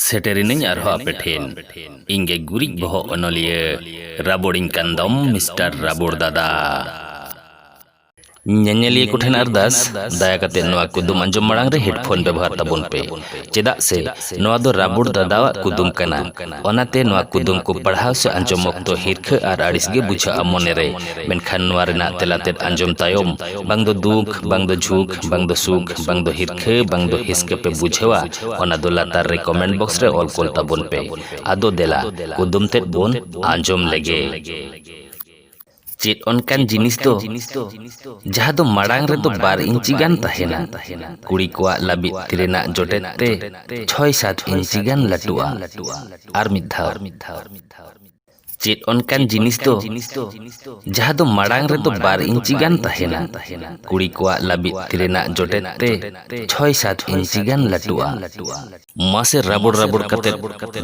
ᱥᱮᱴᱮᱨᱤᱱᱟᱹᱧ ᱟᱨᱦᱚᱸ ᱟᱯᱮ ᱴᱷᱮᱱ ᱤᱧ ᱜᱮ ᱜᱩᱨᱤᱡ ᱵᱚᱦᱚᱜ ᱚᱱᱚᱞᱤᱭᱟᱹ ᱨᱟᱵᱚᱲᱤᱧ ᱠᱟᱱ ᱫᱚᱢ ᱢᱤᱥᱴᱟᱨ ᱨᱟᱵᱚᱲ ᱫᱟᱫᱟ ᱧᱮᱧᱮᱞᱤᱭᱟᱹ ᱠᱚ ᱴᱷᱮᱱ ᱟᱨᱫᱟᱥ ᱫᱟᱭᱟ ᱠᱟᱛᱮ ᱱᱚᱣᱟ ᱠᱩᱫᱩᱢ ᱟᱸᱡᱚᱢ ᱢᱟᱲᱟᱝ ᱨᱮ ᱦᱮᱰᱯᱷᱳᱱ ᱵᱮᱵᱚᱦᱟᱨ ᱛᱟᱵᱚᱱ ᱯᱮ ᱪᱮᱫᱟᱜ ᱥᱮ ᱱᱚᱣᱟ ᱫᱚ ᱨᱟᱵᱚᱲ ᱫᱟᱫᱟᱣᱟᱜ ᱠᱩᱫᱩᱢ ᱠᱟᱱᱟ ᱚᱱᱟᱛᱮ ᱱᱚᱣᱟ ᱠᱩᱫᱩᱢ ᱠᱚ ᱯᱟᱲᱦᱟᱣ ᱥᱮ ᱟᱸᱡᱚᱢ ᱚᱠᱛᱚ ᱦᱤᱨᱠᱷᱟᱹ ᱟᱨ ᱟᱹᱲᱤᱥ ᱜᱮ ᱵᱩᱡᱷᱟᱹᱜᱼᱟ ᱢᱚᱱᱮ ᱨᱮ ᱢᱮᱱᱠᱷᱟᱱ ᱱᱚᱣᱟ ᱨᱮᱱᱟᱜ ᱛᱮᱞᱟ ᱛᱮᱫ ᱟᱸᱡᱚᱢ ᱛᱟᱭᱚᱢ ᱵᱟᱝ ᱫᱚ ᱫᱩᱠ ᱵᱟᱝ ᱫᱚ ᱡᱷᱩᱠ ᱵᱟᱝ ᱫᱚ ᱥᱩᱠ ᱵᱟᱝ ᱫᱚ ᱦᱤᱨᱠᱷᱟᱹ ᱵᱟᱝ ᱫᱚ ᱦᱤᱥᱠᱟᱹ ᱯᱮ ᱵᱩᱡᱷᱟᱹᱣᱟ ᱚᱱᱟ ᱫᱚ ᱞᱟᱛᱟᱨ ᱨᱮ ᱠᱚᱢᱮᱱᱴ ᱵᱚᱠᱥ ᱨᱮ ᱚᱞ ᱠᱩᱞ ᱛᱟᱵᱚᱱ ᱯᱮ ᱟᱫᱚ ᱫᱮᱞᱟ ᱠᱩᱫᱩᱢ ᱛᱮᱫ ᱵᱚᱱ ᱟᱸᱡᱚᱢ ᱞᱮᱜᱮ ᱪᱮᱫ ᱚᱱᱠᱟᱱ ᱡᱤᱱᱤᱥ ᱫᱚ ᱡᱟᱦᱟᱸ ᱫᱚ ᱢᱟᱲᱟᱝ ᱨᱮᱫᱚ ᱵᱟᱨ ᱤᱧᱪᱤ ᱜᱟᱱ ᱛᱟᱦᱮᱱᱟ ᱠᱩᱲᱤ ᱠᱚᱣᱟᱜ ᱞᱟᱹᱵᱤᱫ ᱛᱤ ᱨᱮᱱᱟᱜ ᱡᱚᱴᱮᱫ ᱛᱮ ᱪᱷᱚᱭ ᱥᱟᱛ ᱤᱧᱪᱤ ᱜᱟᱱ ᱞᱟᱹᱴᱩᱜᱼᱟ ᱟᱨ ᱢᱤᱫ ᱫᱷᱟᱣ ᱪᱮᱫ ᱚᱱᱠᱟᱱ ᱡᱤᱱᱤᱥ ᱫᱚ ᱡᱟᱦᱟᱸ ᱫᱚ ᱢᱟᱲᱟᱝ ᱨᱮᱫᱚ ᱵᱟᱨ ᱤᱧᱪᱤ ᱜᱟᱱ ᱛᱟᱦᱮᱱᱟ ᱠᱩᱲᱤ ᱠᱚᱣᱟᱜ ᱞᱟᱹᱵᱤᱫ ᱛᱤ ᱨᱮᱱᱟᱜ ᱡᱚᱴᱮᱫ ᱛᱮ ᱪᱷᱚᱭ ᱥᱟᱛ ᱤᱧᱪᱤ ᱜᱟᱱ ᱞᱟᱹᱴᱩᱜᱼᱟ ᱢᱟᱥᱮ ᱨᱟᱵᱚᱲ ᱨᱟᱵᱚᱲ ᱠᱟᱛᱮ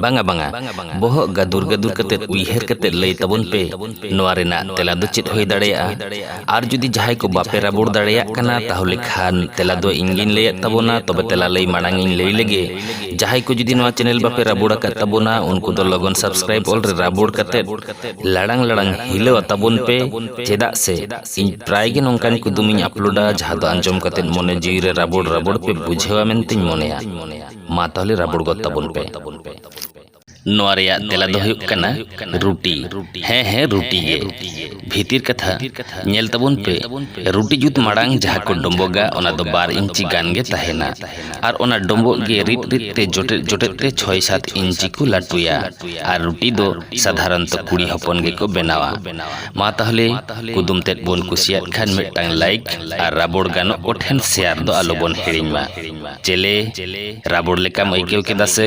ᱵᱟᱝᱟ ᱵᱟᱝᱟ ᱵᱚᱦᱚᱜ ᱜᱟᱫᱩᱨ ᱜᱟᱫᱩᱨ ᱠᱟᱛᱮ ᱩᱭᱦᱟᱹᱨ ᱠᱟᱛᱮ ᱞᱟᱹᱭ ᱛᱟᱵᱚᱱ ᱯᱮ ᱱᱚᱣᱟ ᱨᱮᱱᱟᱜ ᱛᱮᱞᱟ ᱫᱚ ᱪᱮᱫ ᱦᱩᱭ ᱫᱟᱲᱮᱭᱟᱜᱼᱟ ᱟᱨ ᱡᱩᱫᱤ ᱡᱟᱦᱟᱸᱭ ᱠᱚ ᱵᱟᱯᱮ ᱨᱟᱵᱚᱲ ᱫᱟᱲᱮᱭᱟᱜ ᱠᱟᱱᱟ ᱛᱟᱦᱚᱞᱮ ᱠᱷᱟᱱ ᱛᱮᱞᱟ ᱫᱚ ᱤᱧ ᱜᱤᱧ ᱞᱟᱹᱭᱮᱫ ᱛᱟᱵᱚᱱᱟ ᱛᱚᱵᱮ ᱛᱮᱞᱟ ᱞᱟᱹᱭ ᱢᱟᱲᱟᱝ ᱤᱧ ᱞᱟᱹᱭ ᱞᱮᱜᱮ ᱡᱟᱦᱟᱸᱭ ᱠᱚ ᱡᱩᱫᱤ ᱱᱚᱣᱟ ᱪᱮᱱᱮᱞ ᱵᱟᱯᱮ ᱨᱟᱵᱚᱲ ᱟᱠᱟᱫ ᱛᱟᱵᱚᱱᱟ ᱩᱱᱠᱩ ᱫᱚ ᱞᱚᱜᱚᱱ ᱥᱟᱵᱥᱠᱨᱟᱭᱤᱵ ᱚᱞ ᱨᱮ ᱨᱟᱵᱚᱲ ᱠᱟᱛᱮ ᱞᱟᱲᱟᱝ ᱞᱟᱲᱟᱝ ᱦᱤᱞᱟᱹᱣ ᱟᱛᱟᱵᱚᱱ ᱯᱮ ᱪᱮᱫᱟᱜ ᱥᱮ ᱤᱧ ᱯᱨᱟᱭ ᱜᱮ ᱱᱚᱝᱠᱟᱱ ᱠᱩᱫᱩᱢ ᱤᱧ ᱟᱯᱞᱳᱰᱟ ᱡᱟᱦᱟᱸ ᱫᱚ ᱟᱸᱡᱚᱢ ᱠᱟᱛᱮ ᱢᱚᱱᱮ ᱡᱤᱣᱤ ᱨᱮ ᱨᱟᱵᱚᱲ ᱨᱟᱵᱚᱲ ᱯᱮ ᱵᱩᱡᱷᱟᱹᱣᱟ ᱢᱮᱱᱛᱮᱧ ᱢᱚᱱᱮᱭᱟ ᱢᱟ ᱛᱟᱦᱚᱞᱮ ᱨᱟᱵᱚᱲ ᱜᱚᱫ ᱛᱟᱵᱚᱱ ᱯᱮ ᱱᱚᱣᱟ ᱨᱮᱭᱟᱜ ᱛᱮᱞᱟ ᱫᱚ ᱦᱩᱭᱩᱜ ᱠᱟᱱᱟ ᱨᱩᱴᱤ᱾ ᱦᱮᱸ ᱦᱮᱸ ᱨᱩᱴᱤ ᱜᱮ᱾ ᱵᱷᱤᱛᱤᱨ ᱠᱟᱛᱷᱟ, ᱧᱮᱞ ᱛᱟᱵᱚᱱ ᱯᱮ, ᱨᱩᱴᱤ ᱡᱩᱛ ᱢᱟᱲᱟᱝ ᱡᱟᱦᱟᱸ ᱠᱚ ᱰᱚᱸᱵᱚᱜᱟ ᱚᱱᱟ ᱫᱚ ᱵᱟᱨ ᱤᱧᱪᱤ ᱜᱟᱱ ᱜᱮ ᱛᱟᱦᱮᱸᱱᱟ᱾ ᱟᱨ ᱚᱱᱟ ᱰᱚᱸᱵᱚᱜ ᱜᱮ ᱨᱤᱫ ᱨᱤᱫ ᱛᱮ ᱡᱚᱴᱮᱫ ᱡᱚᱴᱮᱫ ᱛᱮ ᱪᱷᱚᱭ ᱥᱟᱛ ᱤᱧᱪᱤ ᱠᱚ ᱞᱟᱹᱴᱩᱭᱟ᱾ ᱟᱨ ᱨᱩᱴᱤ ᱫᱚ ᱥᱟᱫᱷᱟᱨᱚᱱᱛᱚ ᱠᱩᱲᱤ ᱦᱚᱯᱚᱱ ᱜᱮᱠᱚ ᱵᱮᱱᱟᱣᱟ᱾ ᱢᱟ ᱛᱟᱦᱞᱮ ᱠᱩᱫᱩᱢ ᱛᱮᱫ ᱵᱚᱱ ᱠᱩᱥᱤᱭᱟᱫ ᱠᱷᱟᱱ ᱢᱤᱫᱴᱟᱝ ᱞᱟᱭᱤᱠ ᱟᱨ ᱨᱟᱵᱚᱲ ᱜᱟᱱᱚᱜ ᱠᱚ ᱴᱷᱮᱱ ᱥᱮᱭᱟᱨ ᱫᱚ ᱟᱞᱚ ᱵᱚᱱ ᱦᱤᱲᱤᱧ ᱢᱟ᱾ ᱪᱮᱞᱮ ᱨᱟᱵᱚᱲ ᱞᱮᱠᱟᱢ ᱟᱹᱭᱠᱟᱹᱣ ᱠᱮᱫᱟ ᱥᱮ